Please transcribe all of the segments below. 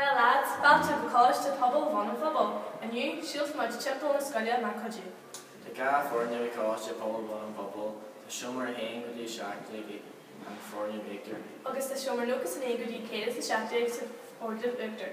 Well lads, fáilte go Coláiste Pobail Bhun an Phobail. Inniu, siúlfaidh muid timpeall na scoile mar cuidiú. Tá dhá foirgneamh i gColáiste Pobail Bhun an Phobail, tá seomra 1 go dtí 17 ag an foirgneamh íochtair. Agus tá seomra 91 go dtí 117 sa foirgneamh uachtair.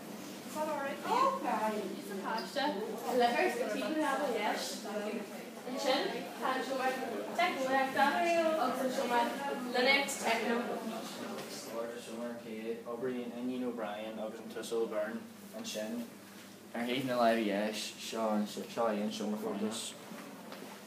Oibríonn Iníon O'Brien agus an tUasal Byrne ansin ar thaobh na láimhe dheis. Seo é an seomra chuntais.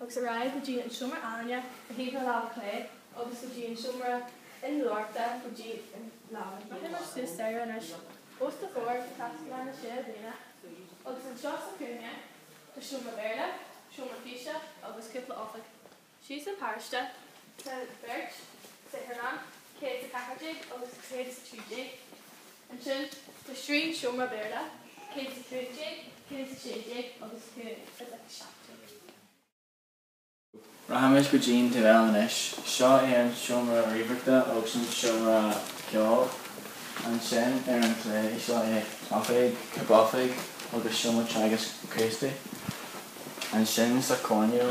agus ar aghaidh go dtí an seomra ealaíne ar thaobh na láimhe clé agus go dtí an seomra innealtóireachta go dtí an lámh chlé. Rachaimid suas staighre anois os do chomhair go Taisclann na Séú Bliana agus anseo sa chúinne tá seomra Béarla, seomra físe agus cúpla oifig. Síos an pasáiste tá beirt saotharlann, 114 agus 113. Ansin, tá trí seomra Béarla, 115, 116 agus 117. Rachaimid go dtí'n taobh eile anois. Seo é an seomra ríomhaireachta agus an seomra ceoil. Ansin, ar an chlé, seo é oifig Caib Oifig agus seomra teagaisc Críostaí. Ansin, sa choirnéal.